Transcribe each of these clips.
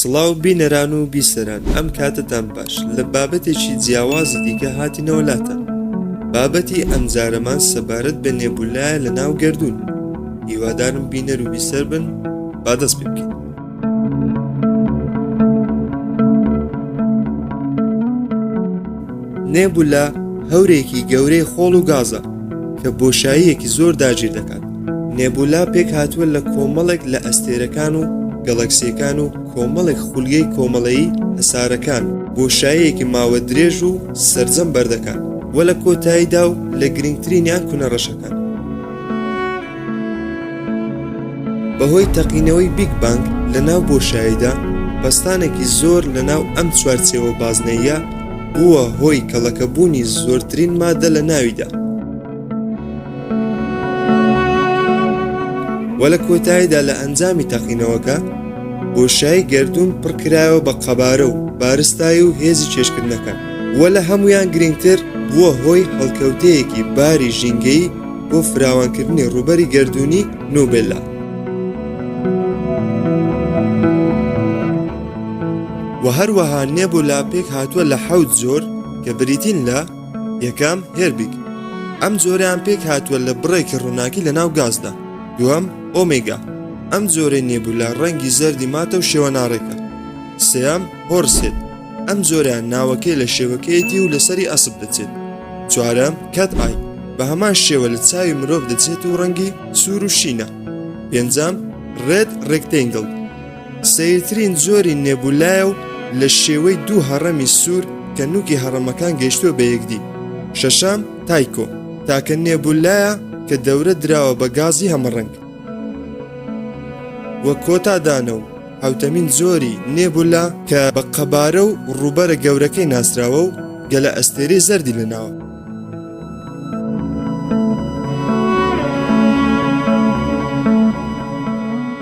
سڵاو بینەران و بیسەران ئەم کاتتان باش لە بابەتێکی جیاوازی دیکە هاتینەوە لاتە بابەتی ئەمجارەمان سەبارەت بە نێبولایە لە ناو گردون هیوادارم بینەر و بیسەر بن بادەست پێ بکەین نێبولا هەورێکی گەورەی خۆڵ و گازە کە بۆشاییەکی زۆر داگیر دەکات نێبولا پێک هاتووە لە کۆمەڵێک لە ئەستێرەکان و گەڵەکسیەکان و کۆمەڵێک خولگەی کۆمەڵەیی هەسارەکان بۆشایەکی ماوە درێژ و سرجەم بەردەکات وە لە کۆتاییدا و لە گرنگترینیان کونە ڕەشەکان بەهۆی تەقینەوەی بیگ بانگ لە ناو بۆشاییدا، پەستانێکی زۆر لە ناو ئەم چوارچێوە بازنەییە بووە هۆی کەڵەکەبوونی زۆرترین ماددە لە ناویدا، و لە کۆتاییدا لە ئەنجامی تەقینەوەکە بۆشایی گەردوون پڕکرایەوە بە قەبارە و بارستایی و هێزی کێشکردنەکان، و لە هەموویان گرنگتر بووە هۆی هەڵکەوتەیەکی باری ژینگەیی بۆ فراوانکردنی ڕووبەری گردردونی نوبێلا و هەروەها نێبۆ لاپێک هاتووە لە حەوت زۆر کە بریتین لە یەکەم هێربیک ئەم جۆریان پێک هاتووە لە بڕێکی ڕووناکی لە ناو گازدا دووەم ئۆمیگا ئەم جۆرەی نێبولا ڕەنگی زەردی ماتە و شێوە ناڕێکە سیام هۆرسێت ئەم جۆرە ناوەکەی لە شێوەکەیەتی و لەسەری ئەسب دەچێت چوارەم کات ئای بە هەمان شێوە لە چاوی مرۆڤ دەچێت و ڕەنگی سوور و شینە پێنجام ڕێت ڕێکتنگل سیرترین جۆری نێبولایە و لە شێوەی دوو هەڕەمی سوور کە نوکی هەڕەمەکان گەشتووە بە یەکدی شەشام تایکۆ تاکە نێبولایە کە دەورە دراوە بە گازی هەمەڕەنگ وە کۆتا دانە و حەوتەمین زۆری نێبولا کە بە قەبارە و ڕووبەرە گەورەکەی ناسراوە و گەلە ئەستێری زەردی لەناوە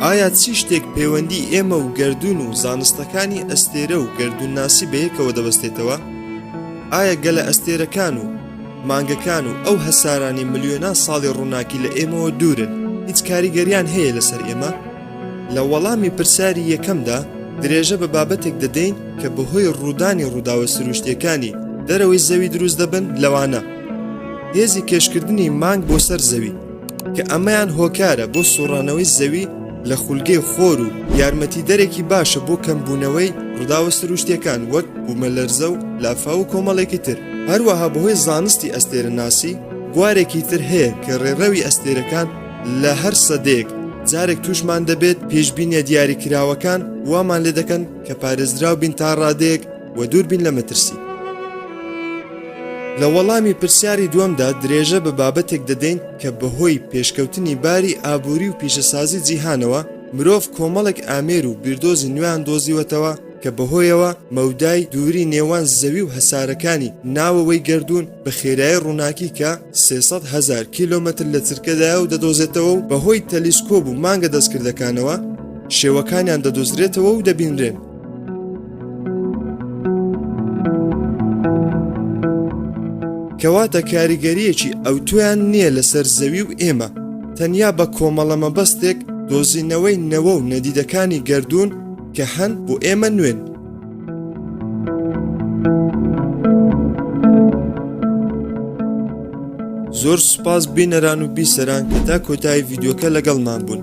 ئایا چی شتێک پەیوەندی ئێمە و گردردون و زانستەکانی ئەستێرە و گردردون ناسی بەیەکەوە دەبەستێتەوە؟ ئایا گەلە ئەستێرەکان و مانگەکان و ئەو هەسارانی ملیۆنان ساڵی ڕووناکی لە ئێمەوە دوورن هیچ کاریگەریان هەیە لەسەر ئێمە لە وەڵامی پرسیاری یەکەمدا درێژە بە بابەتێک دەدەین کە بەهۆی ڕوودانی ڕووداوە سروشتیەکانی دەرەوەی زەوی دروست دەبن لەوانە هێزی کێشکردنی مانگ بۆ سەر زەوی کە ئەمەیان هۆکارە بۆ سوڕانەوەی زەوی لە خولگەی خۆر و یارمەتی دەرێکی باشە بۆ کەمبوونەوەی ڕداوە سروشتیەکان وەک بوومەلەرزە و لافا و کۆمەڵێکی تر هەروەها بەهۆی زانستی ئەستێرە ناسی بوارێکی تر هەیە کە ڕێڕەوی ئەستێرەکان لە هەر سەدەیەک جارێک توشمان دەبێت پێشببینە دیاری کراوەکان وامان لێ دەکەن کە پارێزراو بین تا ڕادەیەک و دوور بین لە مەترسی. لە وەڵامی پرسیاری دووەمدا درێژە بە بابەتێک دەدەین کە بەهۆی پێشکەوتنی باری ئابووری و پیشەسازی جیهانەوە مرۆڤ کۆمەڵێک ئامێر و بیردۆزی نوێیان دۆزیوەتەوە کە بەهۆیەوە مەودای دووری نێوان زەوی و هەسارەکانی ناوەوەی گردوون بە خێرای ڕووناکی کە 300 هزار کیلومتر لە چرکەدایە و دەدۆزێتەوە و بەهۆی تەلیسکۆب و مانگە دەستکردەکانەوە شێوەکانیان دەدۆزرێتەوە و دەبینرێن کەواتە کاریگەریەکی ئەوتۆیان نییە لەسەر زەوی و ئێمە تەنیا بە کۆمەڵە مەبەستێک دۆزینەوەی نەوە و نەدیدەکانی گردردون کە هەن بۆ ئێمە نوێن زۆر سوپاس بینەران و بیسەران کە تا کۆتایی یددیوکە لەگەڵمان بوون